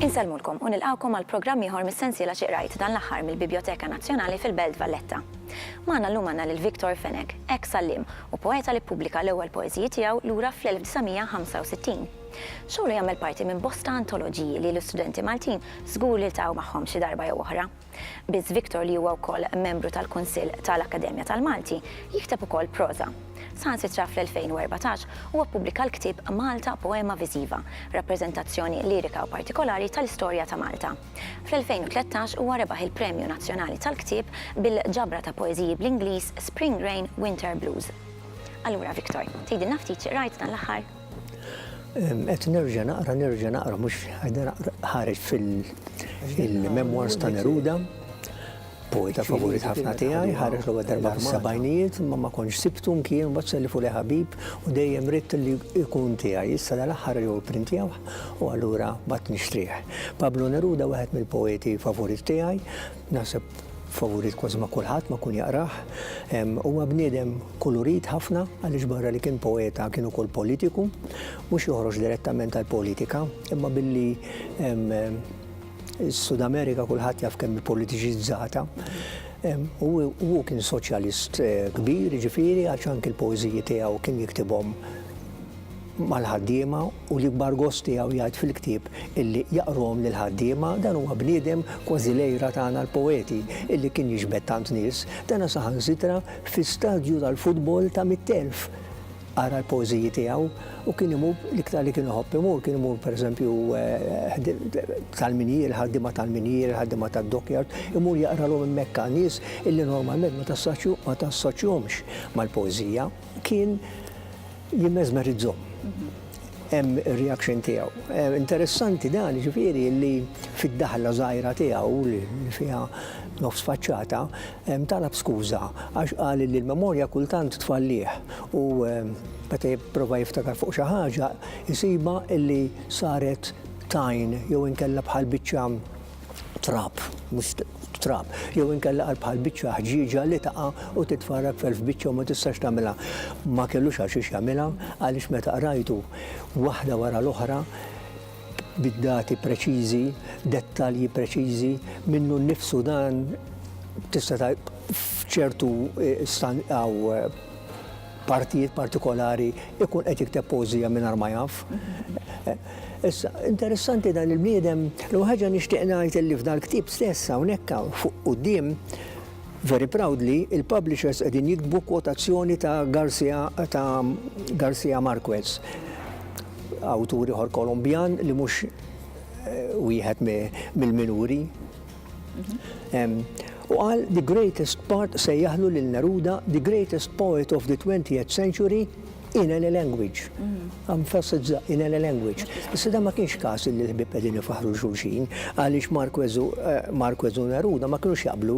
Insellmulkom u nilqgħukom għal programm ieħor mis-sensiela Xi Qrajt dan l-aħħar mill-Bibjoteka Nazzjonali fil-Belt Valletta. Magħna llum għandna lil Victor Fenech, eks għalliem u poeta li ppubblika l-ewwel poeżiji tiegħu lura fl-1965. Xogħlu jagħmel parti minn bosta antoloġiji li l-istudenti Maltin Żgur li ltaqgħu magħhom xi darba jew oħra. Biss Victor li huwa wkoll membru tal-Kunsill ta' l-Akkademja tal-Malti, jikteb ukoll proża. Saħansitra fl-2014 huwa ppubblika l-ktieb Malta Poema Viżiva, rappreżentazzjoni lirika u partikolari ta' l-istorja ta' Malta. Fl-2013 huwa rebaħ il-Premju Nazzjonali tal-Ktieb bil-ġabra ta' poeżiji bl-Ingliż Spring Rain, Winter Blues. Allura Victor, tgħidilna ftit xi qrajt dan l-aħħar? Qed nerġa' naqra, nerġa' naqra, mhux ħareġ fil-memoirs ta' Neruda, poeta favorit ħafna tiegħi, ħareġ l-ewwel darba fis-sebgħinijiet, imma ma kontx sibtu nkien mbagħad selli fuq ħabib u dejjem ridt li jkun tiegħi. Issa dal-aħħar jew printjawh u allura bad nixtrih. Pablo Neruda wieħed mill-poeti favorit tiegħi, Naħseb favorit kważi ma' kulħadd ma' kun jaqrah. Huwa bniedem kulurit ħafna għaliex barra li kien poeta kien ukoll politiku, mhux joħroġ direttament għall-politika, imma billi s-Sud Amerika kulħadd jaf kemm politiċizzata. U hu kien soċjalist eh, kbir, ġifieri għax anki l-poeżiji tiegħu kien jiktibhom mal-ħaddiema u l-ikbar gost tiegħu jgħid fil-ktieb illi jaqruhom lill-ħaddiema, dan huwa bniedem kważi l-għira tagħna l-poeti illi kien jiġbed tant nies, dana saħansitra fi stadju tal-futbol ta' mitt elf ara l-poeżiji tiegħu u kien imur l-iktar li kien iħobb imur kien imur pereżempju tal-minjieri, ħaddiema tal-minjieri, ħaddiema tad-dockyard, imur jaqralhom hemmhekk nies illi normalment ma tassoċjhomx mal-poeżija. Kien Jimmesmerizzhom. Hemm ir-reaction tiegħu. Interessanti dan ġifieri li fid-daħla żgħira tiegħu li fiha nofs faċċata talab skuża għax qal li l-memorja kultant tfallih u meta jipprova jiftakar fuq xi ħaġa jsibha li saret tajn jew inkella bħal biċċa trab, mhux trab, jew inkella għal bħal biċċa ħġieġa li taqa' u titfarrak f'elf biċċa u ma tistax tagħmilha. Ma kellux għal xiex jagħmilha għaliex meta qrajtu waħda wara l-oħra bid-dati preċiżi, dettalji preċiżi, minnu nnifsu dan tista' f'ċertu eh, stan għaw eh, partijiet partikolari ikun qed jikteb poeżija mingħajr ma jaf. Issa, interessanti dan il-bniedem, l ħaġa nixtieq ngħid li f'dan il-ktieb stess hawnhekk fuq quddiem Very proudly, il-publishers qegħdin jiktbu kwotazzjoni ta' Garcia ta' Garcia Marquez, awtur ieħor Kolombjan li mhux eh, wieħed mill-minuri U qal the greatest part sejjaħlu lil Neruda the greatest poet of the 20th century in any language. Emphasizza in any language. Issa da ma kienx każ li l-ħbieb qegħdin ifaħħru xulxin għaliex Marquez u Neruda ma kinux jaqblu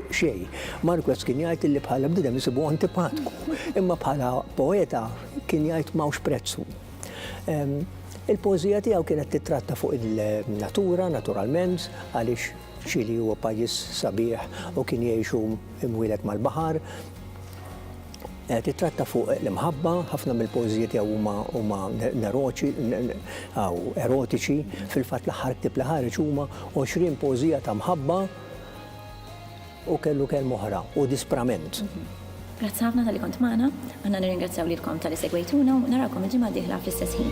xejn. Marquez kien jgħid li bħala bniedem isibu antipatku, imma bħala poeta kien jgħid m'hawnx prezzu. Il-poeżija tiegħu kienet tittratta fuq il-natura, naturalment, għaliex Ċili huwa pajjiż sabiħ u kien jgħixu imwieled mal-baħar. Eh, tittratta fuq l-imħabba, ħafna mill-poeżija tiegħu huma huma neroċi, aw erotiċi, fil-fatt l-aħħar ktib li ħareġ huma 20 poeżija ta' mħabba Hu kellu kelma oħra u disprament. Grazzi ħafna talli kont magħna. Aħna nirringrazzjaw lilkom talli segwejtuna u narawkom il-ġimgħa d-dieħla fl-istess ħin.